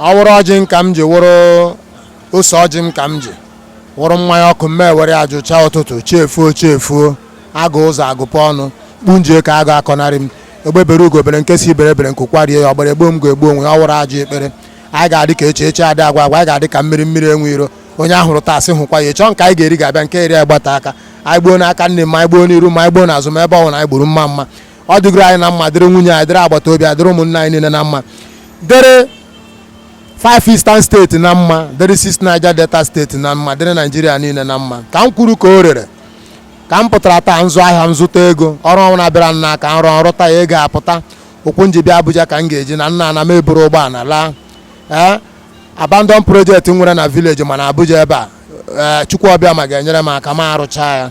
ọ wụrụ ọjị m ka m ji wụrụ ose ọjị m ka m ji wụrụ mmanya ọkụ m ewere ajụcha ụtụtụ chi efuo chi efuo agụ ụzọ agụpụ ọnụ kpunjie ka agụ akọnarị m egbe bere ugo bere nke sị ibe ebere nku kwarie ya ọbịara egbu m ga-egbu onwe ya ọ wụrụ ajọ ekpere anyị ga-adị ka echi echi adị agwụ agwụ anyị ga-adị ka mmiri mmiri enwe iro onye a hụrụ taa sị hụkwa ya echi nke anyị ga-eri ga-abịa nke eri anyị gbata aka anyị gbuo n'aka nri mma anyị gbuo n'iru mma anyị gbuo n'azụ mma ebe ọ bụla anyị gburu mma mma ọ dịgoro anyị na mma dịrị nwunye anyị dịrị agbata obi anyị dịrị ụmụnne anyị niile na mma dịrị five eastern steeti na mma dịrị six Niger Delta steeti na mma dịrị naijiria niile na mma ka m kwuru ka o rere ka m pụtara taa m zụọ ahịa m zụta ego ọrụ ọwụna bịara m n'aka m rụọ m rụta ya ego apụta ụkwụ m ji bịa Abuja ka m ga-eji naa m na-ana m eburu ụgbọala laa ee eh, abandon project m nwere na vileji ma n'Abuja ebe a ee eh, Chukwu Abiama ga-enyere m aka m arụchaa ya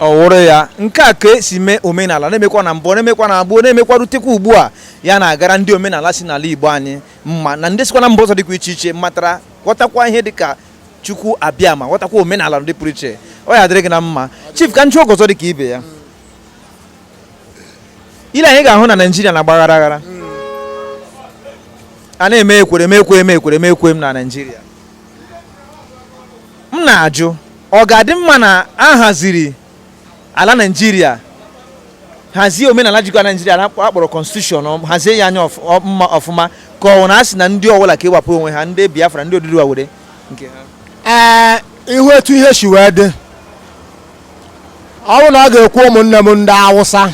ọ wụrụ ya nke a ka e si mee omenala na-emekwa na mbụ na-emekwa na abụọ na-emekwa rutekwa ugbu a ya na-agara ndị omenala si n'ala Igbo anyị mma na ndị sikwa na mba ọzọ dịkwa iche iche matara ghọtakwa ihe dịka Chukwu Abiama ghọtakwa omenala ndị pụrụ iche ọ ya dịrị gị na mma chief ka m jụọ gị ọzọ dịka ihe a niile anyị ga-ahụ na Naịjirịa na-agbaghara aghara a na-eme ekwere m ekwe m ekwere m ekwe m na Naịjirịa m na-ajụ ọ ga-adị mma na a haziri ala naijiria hazie omenala jikọ ala naijiria a kpọrọ konstitushọn hazie ya anya ọfụma ka ọ wụ na a sị na ndị ọbụla ka ịwapụ onwe ha ndị biafra ndị oduduwa were nke ha ee ị hụ etu ihe si wee dị ọ bụ na ọ ga-ekwe ụmụnne m ndị awụsa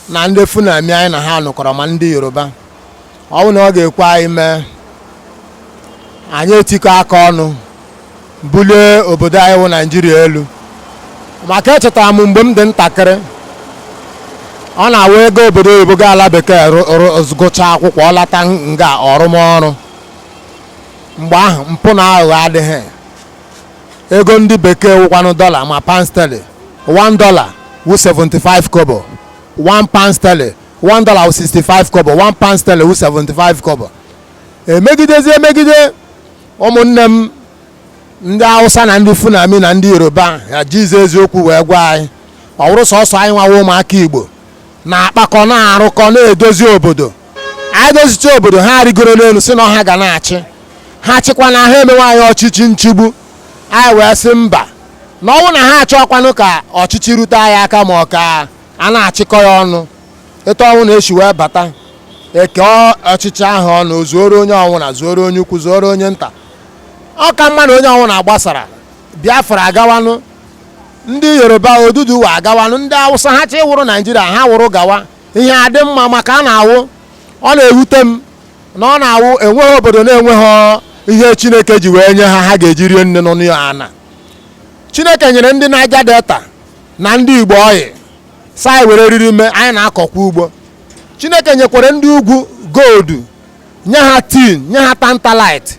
na ndị fulani anyị na ha nọkọrọ ma ndị yoruba ọ bụ na ọ ga-ekwe anyị mee anyị etikọ aka ọnụ bulie obodo anyị wụ naijiria elu maka echetara m mgbe m dị ntakịrị ọ na-awụ ị gaa obodo oyibo gaa ala bekee gụchaa akwụkwọ ọ lata nga ọrụmọrụ mgbe ahụ mpụ na aghụghọ adịghị ego ndị bekee wụkwanụ dọla ma pound sterling 1 dọla wụ 75 kobo 1 pound sterling 1 dollar 65 kobo 1 pound sterling 75 kobo emegidezi emegide ụmụnne m ndị awụsa na ndị fulani na ndị yoruba ha jizi eziokwu wee gwa anyị ọ wụrụ sọsọ anyị nwawa ụmụaka igbo na-akpakọ na-arụkọ na-edozi obodo anyị dozicha obodo ha arịgoro n'elu sị na ọ ha ga na-achị ha chịkwanụ ha emewe anyị ọchịchị nchigbu anyị wee sị mba na ọ wụ na ha achọkwanụ ka ọchịchị rute anyị aka ma ọ ka a na-achịkọ ya ọnụ etu ọnwụna eshi wee bata eke ọchịchị ahụ ọnụ o zuoro onye ọnwụna zuoro onye ukwu zuoro onye nta ọ ka mma na onye ọnwụna agbasara biafra agawanụ ndị yoruba oduduwa agawanụ ndị awụsa ha chọ ịwụrụ naijiria ha wụrụ gawa ihe adị mma maka a na-awụ ọ na-ewute m na ọ na-awụ enweghị obodo na-enweghị ihe chineke ji wee nye ha ha ga-eji rie nne n'ọnụ ya ana chineke nyere ndị niger delta na ndị Igbo oil sị anyị were riri mee anyị na-akọkwa ugbo Chineke nyekwara ndị ugwu gold nye ha tin nye ha tantalite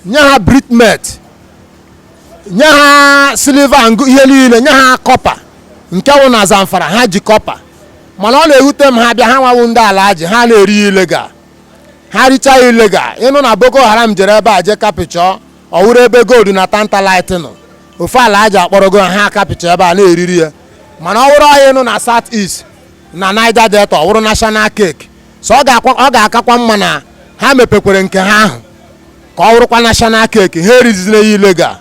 nye ha britmet nye ha silver ihe niile nye ha copper nke wụ na Zamfara ha ji copper mana ọ na-ewute m ha bịa ha nwa wụ ndị alhaji ha na-eri ya illegal ha richaa illegal ị nụ na Boko Haram jere ebe a jee capture ọ wụrụ ebe gold na tantalite nọ ofu alhaji akpọrọgo ha a capture ebe a na-eriri ya mana ọ wụrụ oil nọ na south east na niger delta ọ wụrụ national cake so ọ ga-akakwa mma na ha mepekwere nke ha ahụ ka ọ wụrụkwa national cake ha erizina ya illegal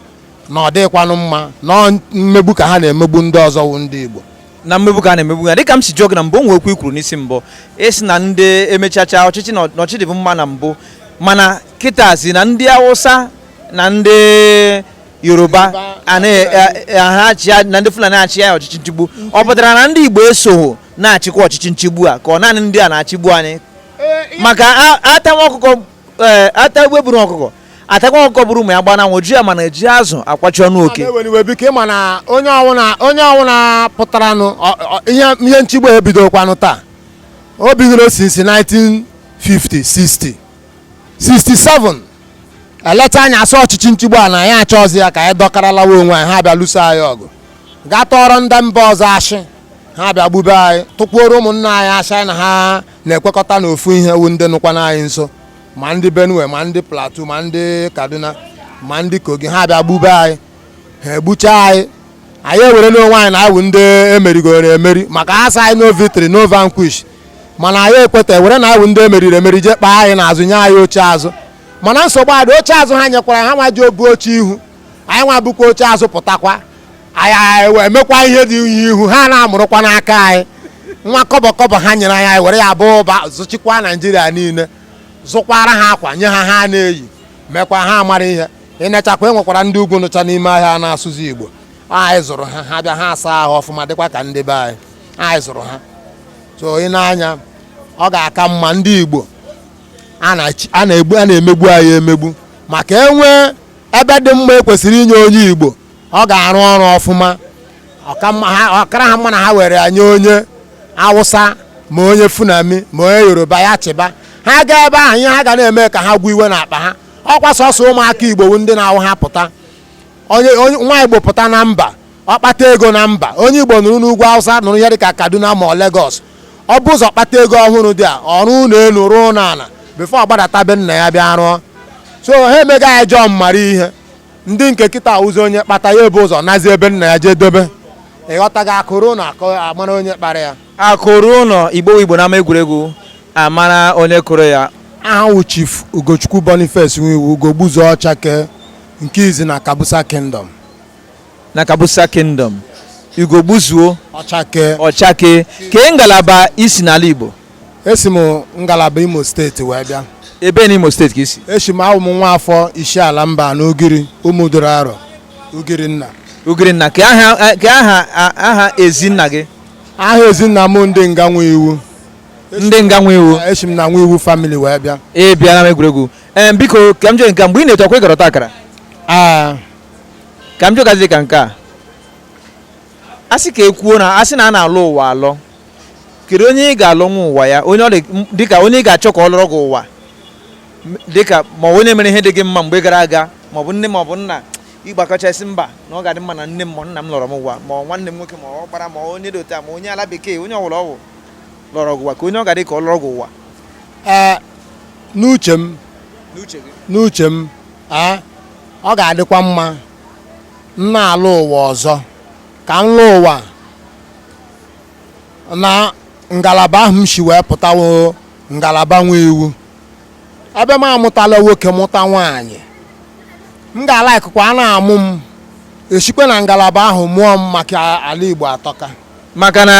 na ọ dịghịkwanụ mma na mmegbu ka ha na-emegbu ndị ọzọ wụ ndị igbo na mmegbu ka a na-emegbu ya dịka m si jụọ gị na mbụ o nwekwa ihe i kwuru n'isi mbụ ị sị na ndị emechacha ọchịchị na ọchịchị dịbu mma na mbụ mana kịta ị sị na ndị awụsa na ndị yoruba na ndị fulani achị ya ọchịchị nchigbu ọ pụtara na ndị igbo esoghị na-achịkwa ọchịchị nchigbu a ka ọ naanị ndị a na-achịgbu anyị maka atawa ọkụkọ e, ata egbe buru ọkụkọ atakwa ọkụkọ buru ụmụ ya gbana nwụ ji ya mana eji azụ akwachi ọnụ oke onye ọwụna pụtaranụ ihe nchigbu ebidokwanụ taa o bidoro since 1950 60 67 eleta anya asị ọchịchị nchigbu a na anyị achọzi ya ka anyị dọkara lawa onwe anyị ha bịa lụso anyị ọgụ gaa tụọrọ ndị mba ọzọ ashị ha bịa gbube anyị tụkwuoro ụmụnna anyị ashị na ha na-ekwekọta n'ofu ihe wụ ndị nọkwanụ anyị nso ma ndị benue ma ndị plateau ma ndị kaduna ma ndị kogi ha bịa gbube anyị ha egbucha anyị anyị ewere n'onwe anyị na awụ ndị emerigoro emeri maka ha sị anyị no victory no vanquish mana anyị ekweta ewere na awụ ndị emeriri emeri jee kpaa anyị n'azụ nye anyị oche azụ mana nsogbu adị oche azụ ha nyekwara ha nwa ji obu oche ihu anyị nwa bụkwa oche azụ pụtakwa anyị emekwa ihe dị ihu ha na-amụrụkwa n'aka anyị nwa kọbọ kọbọ ha nyere anyị anyị were ya baa ụba zụchikwa naijiria niile zụkwara ha akwa nye ha ha na-eyi mekwa ha mara ihe ịnechakwa enwekwara ndị ugwu nọcha n'ime ahịa a na-asụzi igbo anyị zụrụ ha ha bịa ha asaa ahụ ọfụma dịkwa ka ndị be anyị anyị zụrụ ha so ị na-anya ọ ga-aka mma ndị igbo a na-egbu a na-emegbu anyị emegbu maka enwee ebe dị mma ekwesịrị inye onye igbo ọ ga-arụ ọrụ ọfụma ọ kara ha mma na ha were ya nye onye awụsa ma onye fulani ma onye yoruba ya chịba ha gaa ebe ahụ ihe ha ga na-eme ka ha gwụ iwe n'akpa ha ọkwa sọsọ ụmụaka igbo bụ ndị na-awụ ha pụta onye onye- nwa igbo pụta na mba ọ kpata ego na mba onye igbo nọrọ n'ugwu awụsa nọrọ ihe dịka kaduna ma ọ lagos o bu ụzọ kpata ego ọ wụrụ there ọ rụọ ụlọ elu rụọ ụlọ ala before ọ gbadata be nna ya bịa rụọ so ha emega ya jọọ mara ihe ndị nke kịta awụzị onye kpata ya ebu ụzọ nazie be nna ya jee dobe ịghọtago akụ ruo ụlọ amara onye kpara ya akụ ruo ụlọ igbo igbo n'ama egwuregwu amara onye kụrụ ya aha m wụ chief ugochukwu boniface nwiwu ugogbuzuo ọchake nke izi na kabusa kingdom na kabusa kingdom ugogbuzuo ọchake ọchake kee ngalaba i si n'ala igbo esi m ngalaba imo steeti wee bịa ebee n'imo steeti ka i si esi m awụ m nwa afọ isiala mbano ugiri ụmụduru arọ ugiri nna ugiri nna kee aha ezinna gị aha ezinna m ndị nga nwiwu ndị nga nwiwu esi m na nwiwu family wee bịa ee bịa na egwuregwu ee biko ka m jee nke a, mgbe ị na-eto ọkwa ịgọrọta akara aa ka m jụgazi ka nke a asị ka ekwuo na asị na a na-alọ ụwa alọ kedu onye ị ga-alọ nwa ụwa ya onye ọ dị m- dịka onye ị ga-achọ ka ọ lọrọ gị ụwa M- dịka ma onye mere ihe dị gị mma mgbe gara aga maọbụ nne maọbụ nna ị gbakọchaa sị mba na ọ ga-adị mma na nne m ma nna m lọrọ m ụwa ma nwanne m nwoke ma ọ gbara ma onye dị otu a ma onye ala bekee onye ọwụla ọ wụ lọrọ gị ụwa kee onye ọ ga-adị ka ọ lọrọ gị ụwa n'uche m n'uche m ọ ga-adịkwa mma na a lọ ụwa ọzọ ka m lọọ ụwa na ngalaba ahụ m si wee pụta wụ ngalaba nwiwu ebe m amụtala nwoke mụta nwaanyị m ga-alikekwa a na-amụ m esikwa na ngalaba ahụ mụọ m maka ala Igbo atọka maka na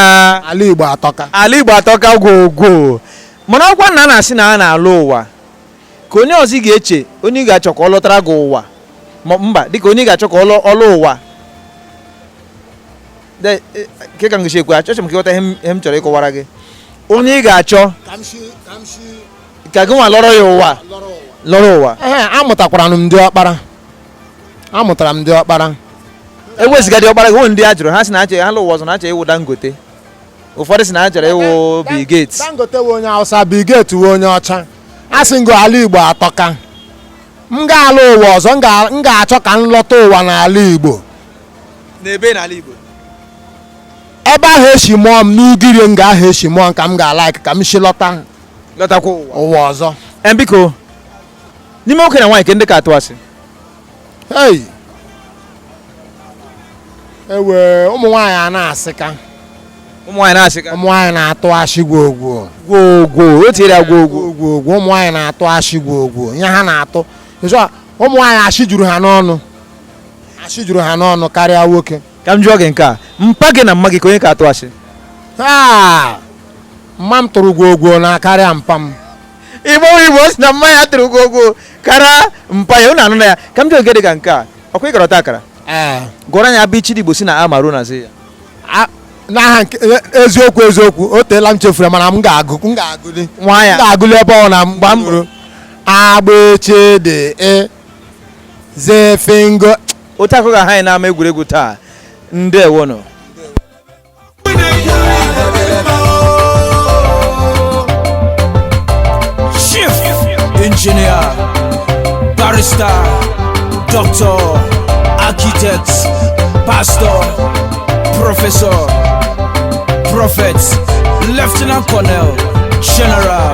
ala Igbo atọka ala Igbo atọka gwogwo mana ọkwa na a na-asị na a na-alọ ụwa kee onye ọzọ ị ga-eche onye ị ga-achọ ka ọ lọtara gị ụwa mba dịka onye ị ga-achọ ka ọ lọ ụwa E, kee ka m ga-esi ekwu ya achọrọ m ka ịghọta ihe m chọrọ ịkọwara gị onye ị ga-achọ ka gị nwa lọrọ ya ụwa lọrọ ụwa ee amụtakwara m di ọkpara amụtara m di ọkpara ewezụga di ọkpara gị nwere ndị a jụrụ ha sị na achọ ha lọ ụwa ọzọ na achọ ịwụ Dangote ụfọdụ sị na ha chọrọ ịwụ Bill Gates Dangote wụ onye Hausa Bill Gates wụ onye ọcha a sị ngo ala Igbo atọka m ga-alọ ụwa ọzọ m ga- m ga-achọ ka m lọta ụwa n'ala Igbo n'ebe n'ala Igbo ebe ahụ e si mụọ m n'Ugiri nga ahụ e si mụọ m ka m ga-alaik ka m si lọta lọtakwa ụwa ụwa ọzọ Ee, biko n'ime nwoke na nwaanyị ke ndị ka atụ asị ei ewe ụmụ nwaanyị a na-asịka ụmụ nwaanyị na-asịka ụmụ nwaanyị na-atụ ashị gwo gwo gwoo gwoo o tinyere ya gwoo gwoo gwo gwo gwo ụmụ nwaanyị na-atụ ashị gwo gwo ihe ha na-atụ ịzụ a, ụmụ nwaanyị ashị juru ha n'ọnụ ashị juru ha n'ọnụ karịa nwoke ka m jụọ gị nke a mpa gị na mma gị ke onye ka atụ asị taa mma m tụrụ gwo gwo na karịa mpa m Igbo Igbo sị na mma ya tụrụ gwo gwo karịa mpa ya unu anụna ya ka m jụọ gị dị ka nke a ọkwa ị gara ọta akara ee gụọrọ anyị a b ch d Igbo si na a ma ru na z ya a- n'aha nke e- eziokwu eziokwu o teela m chefuru ya, mana m ga-agụ m ga-agụli nwa m ya ga-agụli ebe ọ na mgba m ruru a b ch d e zefingo otu a ka ọ ga-aha anyị n'ama egwuregwu taa ndewonụ Chief Engineer Barrister Doctor Architect Pastor Professor Prophet Lieutenant Colonel General